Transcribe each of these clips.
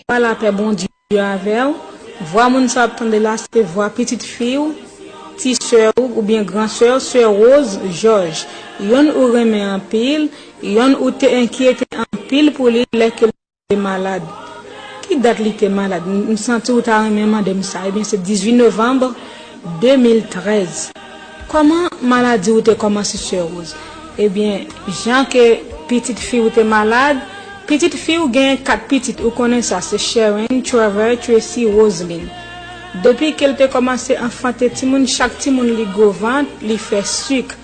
Voix la paix Bondye avèw Vwa moun sa wap tande la se vwa pitit fi w ti sè ou oubyen gran sè w sè Rose Georges yonn ou renmen anpil Yon ou te enkyete anpil pou li lè ke li te malad. Ki dat li te malad? M santi ou ta renmen mande m sa. Ebyen se 18 novanb 2013. Kòman maladi ou te kòmanse sè Woz? Ebyen jan ke pitit fi ou te malad, pitit fi ou genyen 4 pitit ou konnen sa se Sherine, Trevor, Tracy, Roseline. Depi ke l te kòmanse anfante timoun chak timoun li gwo vant, li fè suk.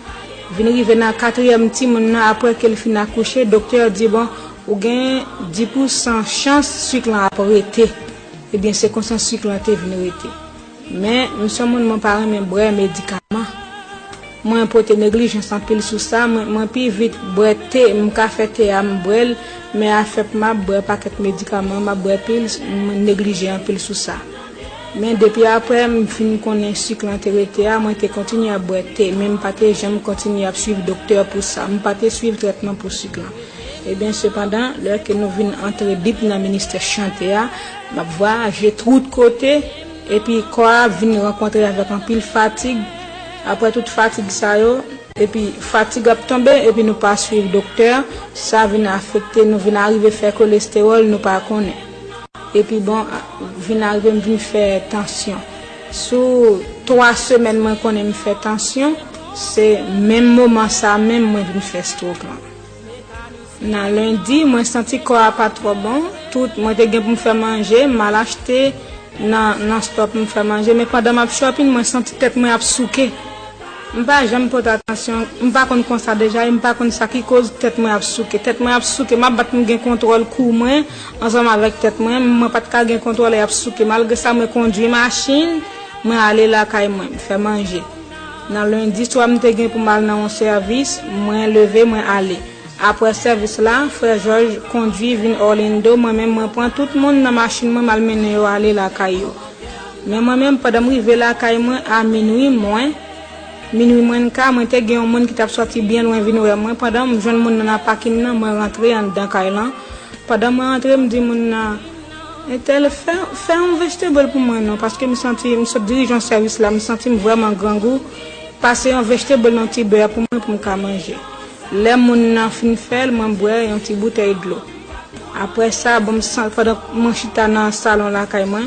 Vin rive nan katriyèm timoun nan apre ke l fin akouche, doktè a di bon ou gen 10 pou san chans suik lan ap rete. Ebyen se konsa suik lan te vin rete. Men, m s on moun mwen pa renmen brè medikaman. Mwen pote neglijans anpil sou sa, mwen pi vit brè te, m ka fè te a m brè l, men afè pou m ap brè pakèt medikaman, m ap brè pils, m neglije anpil sou sa. Men depi aprè m fin konnen sik lan te rete a, mwen te kontinye ap bwè te, men m pa te janm kontinye ap swiv doktè pou sa, m pa te swiv trètman pou sik lan. Ebyen sepandan, lè ke nou vin antre deep nan ministè chante a, m ap vwayaje tout kote, epi kò a vin rankontre avèk anpil fatig, aprè tout fatig sa yo, Epi fatig ap tonbe epi nou pa swiv doktè, sa vin afekte nou vin arive fè kolestewòl nou pa konnen. Epi bon vin arive m vin fè tansyon. Sou 3 semèn mwen konnen m fè tansyon, se menm moman sa menm mwen vin fè strok lan. Nan lundi mwen santi kò a pa twò bon tout mwen te gen pou m fè manje m al achte nan nan stò pou m fè manje men pandan m ap shopping mwen santi tèt mwen ap souke m pa janm pote atansyon m pa konn konsa deja e m pa konn sa ki koz tèt mwen ap souke tèt mwen ap souke m ap bat pou m gen kontwòl kou mwen ansanm avèk tèt mwen men mwen pat ka gen kontwòl e ap souke malgre sa mwen kondwi machin mwen ale lakay mwen m fè manje. Nan lendi swa m te gen pou m al nan yon sèvis, mwen leve mwen ale. Aprè sèvis la, frè Jòj kondwi vin Orlando, mwen menm mwen pran tout moun nan machin mwen m al mennen yo ale lakay yo. Men mwen menm pandan m rive lakay mwen a minwi mwen, minwi mwenka, mwen te gen yon moun ki t ap sòti byen lwen vin wè mwen, pandan m jwenn moun nan nan pakin nan mwen rantre anndan kay lan, pandan mwen antre m di moun nan. Ethel, Fè, fè yon vegetable pou mwen non, paske m santi, m sot dirije yon sèvis la, m santi m vrèman grangou, pase yon vegetable nan ti beurre pou mwen pou m ka manje. Lè moun nan fin fè l, mwen bwè yon ti boutèy dlo. Aprè sa, bon m san, pandan mwen chita nan salon lakay mwen,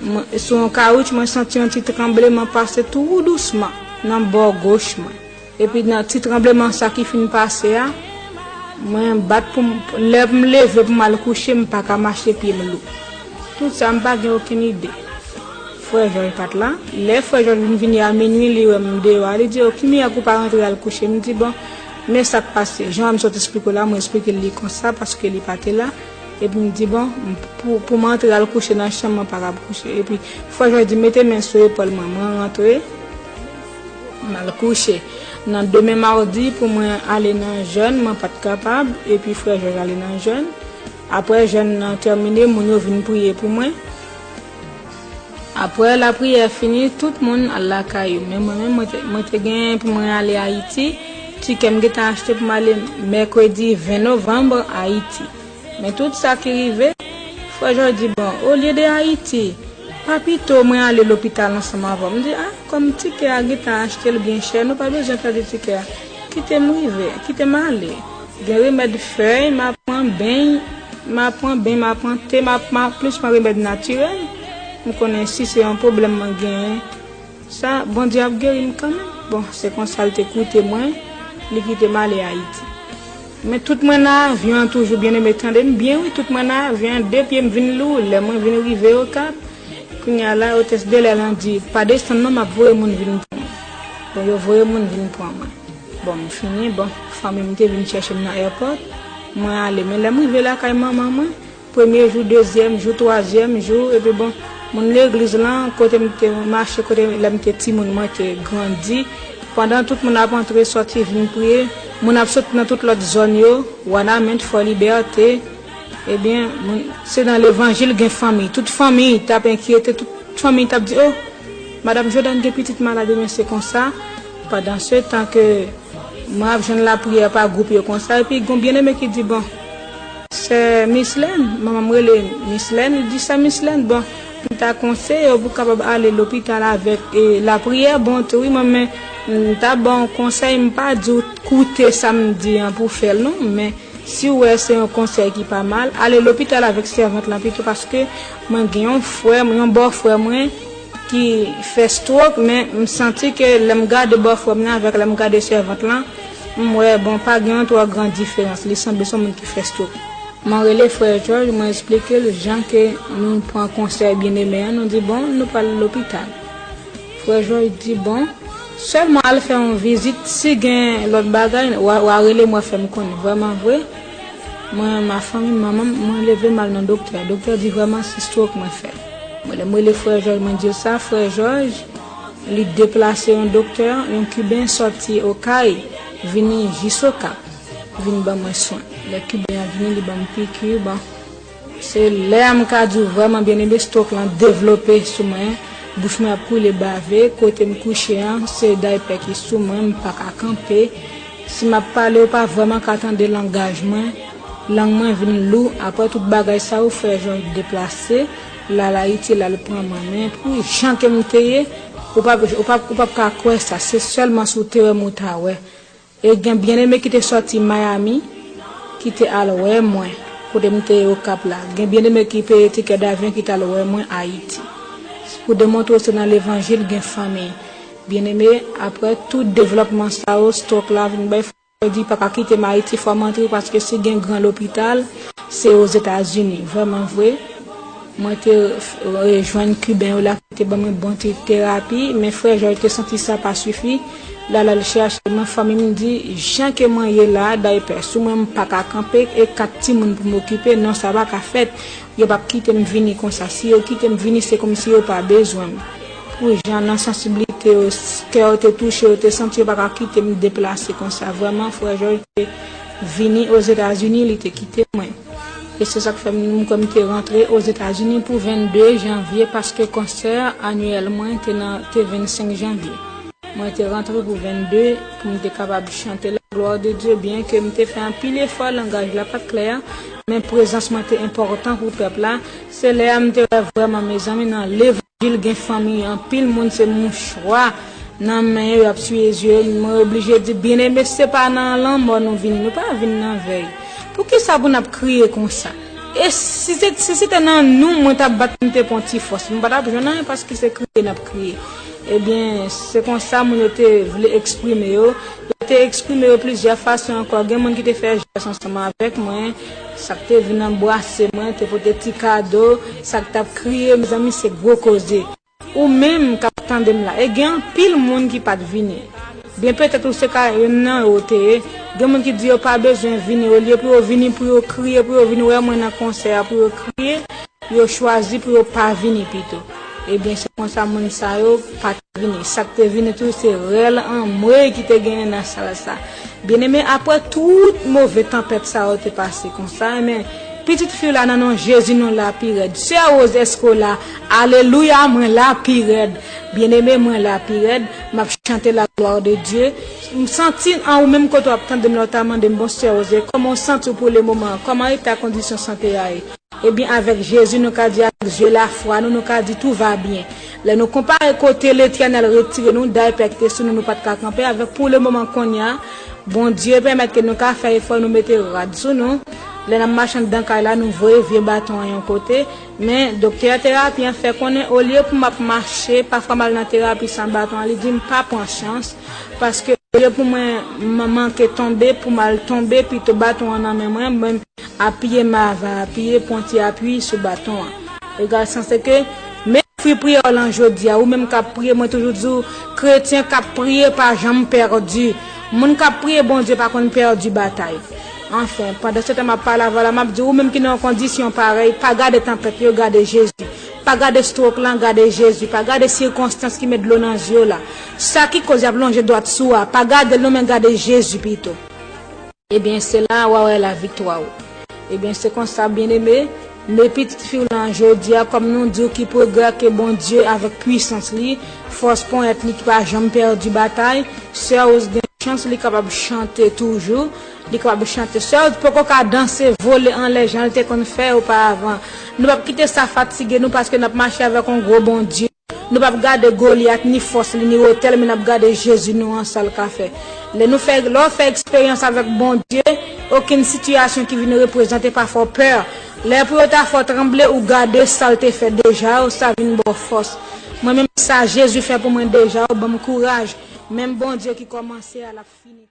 mwen, sou yon kawoutch, mwen santi yon ti tranbleman pase tou dousman nan bò goch mwen. Epi nan ti tranbleman sa ki fin pase a, mwen bat pou m, lè m leve pou m al kouche, m pa ka mache pye m lou. Tout sa m pa gen okenn ide. Frè Jòj pa t la. Lè frè Jòj vin vini a minui li wè m deyò a, li di o ki mirak ou pa rantre al kouche? M di bon, men sa k pase. Jan m sot esplike w la, mwen esplike l li konsa paske li pa te la. Epi m di bon, pou m antre al kouche nan chanm mwen pa kab kouche. Epi frè Jòj di mete men sou epòl mwen. Mwen rantre. M al kouche. Nan demen mardi pou mwen ale nan jèn mwen pat kapab epi frè Jòj ale nan jèn. Aprè jèn nan tèmine moun yo vin priye pou mwen. Aprè lapriyè fini tout moun al lakay yo men mwen menm mwen te gen pou mwen ale Ayiti, tikè m gentan achte pou m ale mèkredi 20 novanm Ayiti. Men tout sa ki rive, frè Jòj di, Bon, olye de Ayiti, pa pito mwen ale lopital ansanm avè w? M di, A, kòm tikè a gen tan achte l byen chè, nou pa bezwen pèdi tikè a. Kite m rive, kite m ale. Gen remèd fèy, m a pran beny, m a pran beny, m a pran te, m a plis pran remèd natirèl. M konnen si se yon pwoblèm mwen genyen, sa, Bondye ap geri m kanmenm. Bon, se konsa l te koute mwen, li kite m ale Ayiti. Men tout mwen nan avyon an toujou byeneme tande m byen wi tout mwen nan avyon an de pye m vin lou lè mwen vin rive okap kounye a la otès de lè lan di pa desann non map voye moun vin pran mwen bon yo voye moun vin pran mwen bon m fini bon fanmi m te vin chèche m nan èpòt mwen ale men lè m rive lakay manman mwen Premye jou dezyèm jou twazyèm jou epi bon moun legliz lan kote m te mache kote lè m te timoun mwen te grandi pandan tout moun ap antre sòti vin priye moun ap sot nan tout lòt zòn yo wanament fòlibète ebyen moun se nan levanjil gen fanmiy tout fanmiy tap enkyete tout fanmiy tap di oh madam jodha gen pitit malad ebyen se konsa pandan se tan ke mwen ap jwenn lapriyè pa gwoup yo konsa epi gon byeneme ki di bon. Sè Mislèn, manman m rele Mislèn, li di, Sè Mislèn, bon, m ta konseye w pou w kapab ale lopital avèk lapriyè bon tou wi, manman, men m ta ba w konsèy, m pa di w koute sa m di an pou w fè l non, men si w wè se yon konsèy ki pa mal, ale lopital avèk sèvant lan pito paske mwen gen yon frè, yon bòfrè mwen. ki fè stroke men m santi ke lè m gade bò frè m nan avèk lè m gade sèvant lan m wè bon pa gen yon twò gran diferans li sanble son moun ki fè stroke. Mwen rele frè Jòj mwen esplike l jan ke nou pran konsèy Byeneme an nou di bon nou pral lopital frè Jòj di bon sèlman al fè yon vizit si gen lòt bagay wa rele m wè fè m konnen vrèman vre Mwen an ma fanmi manmanm mwen leve mal nan doktè doktè di vrèman se stroke mwen fè mwen lèm rele frè jòj mwen dil sa frè jòj li deplase yon doktè yon kiben sòti okay vini jis okap vin ban mwen swen lè kiben an vini li banm piki ban Se lè a m ka di w vrèman byeneme stroke lan devlope sou mwen, bouch mwen ap koule bave, kote m kouche an se daypè ki sou mwen, m pa ka kanpe, si m ap pale ou pa vrèman ka tande langaj mwen, lang mwen vin lou, aprè tout bagay sa yo frè Jòj deplase, l al Ayiti l al pran mwen, men pou jan ke m te ye, ou pa p ka kwè sa, se sèlman sou terè m ou ta wè. E gen byeneme ki te sòti Miami ki te al wè mwen kote m te ye Okap la. Gen byeneme ki peye tikè davyon ki t al wè mwen Ayiti. S pou demontre w se nan levanjil gen fanmi. Byeneme, apre tout devlòpman sa yo, Strok la vin bay fòs pou yo di, Pa ka kite m Ayiti, fò m antre paske si gen gran lopital, se Ozetazini. Vrèmanvre. Mwen te rejwenn Kiben yo la ki te ban mwen bon ti terapi, men frè Jòj te santi sa pa sifi. L al al chache mwen. Fanmi m di, Jan ke mwen ye la a, daypè sou mwen, m pa ka kanpe e kat timoun pou m okipe. Non, sa pa ka fèt. Yo p ap kite m vini konsa. Si yo kite m vini, se kòmsi yo pa bezwen m. Pou jan nan sansiblite yo, kè yo te touche, yo te santi yo pa ka kite m deplase konsa. Vrèman, frè Jòj te vini Ozetazini, li te kite mwen. E se sak fè m kwè m te rantre Ozetazini pou 22 janvye paske konsè anyèl mwen te nan te 25 janvye. Mwen te rantre pou 22 pou m te kapab chante la gloire de Dieu byen ke m te fè anpil efò langaj la pat klè men prezans mwen te enpòtan pou pèp la se lè a m te wè vrèman mezanmi nan Jil gen fanmi anpil moun se mouchwa nan men yo yap siye zye yo mwen oblije di byen eme sepa nan lanmò nou vini nou pa vin nan vèy poukisa pou nap kriye konsa e si se te nan nou mwen tap bat poum te pran ti fòs nou patap jwenn anyen paske se kriye nap kriye ebyen se konsa moun yo te vle eksprime yo yo te eksprime yo plizyè fason ankò gen moun ki te fè jès ansanm avèk mwen. Sa k te vin anbrase mwen, te pote ti kado, sa k t ap kriye, mezanmi se gwo koze. Ou menm k ap tande m la e gen anpil moun ki pa t vini. Byen petèt ou se ka youn nan yo ou te ye. Gen moun ki di yo pa bezwen vini olye pou yo vini pou yo kriye, pou yo vin wè mwen nan konsè a pou yo kriye, yo chwazi pou yo pa vini pito. Ebyen se konsa moun sa yo pa t. Vini. Sa k te vini tou se rèl anmwey ki te genyen nan sal sa. Byeneme, apre tout move tanpèt sa yo te pase konsa, enben, pitit fi w la nan non Jezi nou la pi rèd. Sè Woz èske w la? Alelouya! Mwen la pi rèd. Byeneme, mwen la pi rèd. M ap chante laglwa de Dye. M santi an ou menm kote w ap tande m la ou ta mande m, bon sè Woz e kòman w santi w pou le moman an? Kòman eta kondisyon sante a ye? Ebyen avèk Jezi nou ka di ak zye lafwa nou, nou ka di tou va byen. Lè nou konpare kote Letènèl retire nou, daypè ki te sou nou nou pat ka kanpe avèk pou le moman konnya Bondye pèmèt ke nou ka fè efò nou mete rad sou nou, lè nap mache andan kay la nou voye vye baton an yon kote, men doktè a terapi an fè konnen olye pou map mache pafwa mal nan terapi san baton an li dim pa pran chans paske olye pou mwen manke tonbe poum al tonbe pito baton an nan men mwen, Apiye ma va apiye pwan ti apui sou baton an egal san se ke men fwi priyè w lan jodi a ou menm kap priye mwen toujou di w kretyen kap priye pa janm pèdi moun kap priye Bondye pa konn pèdi batay anfen pandan se tan map pale avè w la map di w ou menm ki nan yon kondisyon parèy pa gade tanpèt yo gade Jezi pa gade strok lan gade Jezi pa gade sikonstans ki met dlo nan zye w la sa ki koz yap lonje dwat sou a pa gade l non men gade Jezi pito. Ebyen se la wa wè la viktwa ou. Ebyen se konsa byeneme, me pitit fiw lan jodia kòm nou diw ki pwogrè ke Bondye avèk pwisans li, fòs ponyèt li ki pa janm pèdi batay, Serge gen chans li kapab chante toujou, li kapab chante Serge poko ka danse vole anlè janl te konn fè opa avan. Nou pap kite sa fatige nou paske nap mache avèk yon gwo Bondye. Nou pap gade Goliath ni fòs li ni otèl men nap gade Jezi nou an sal ka fè. Lè nou fè lè w fè eksperyans avèk Bondye okenn sitiyasyon ki vin reprezante pa fè w pè. Lè pou yo ta fè w tranble ou gade sal te fè deja yo sa vin ba w fòs. Mwen menm sa Jezi fè pou mwen deja yo banm kouraj. Menm Bondye ki kòmanse a lap fini.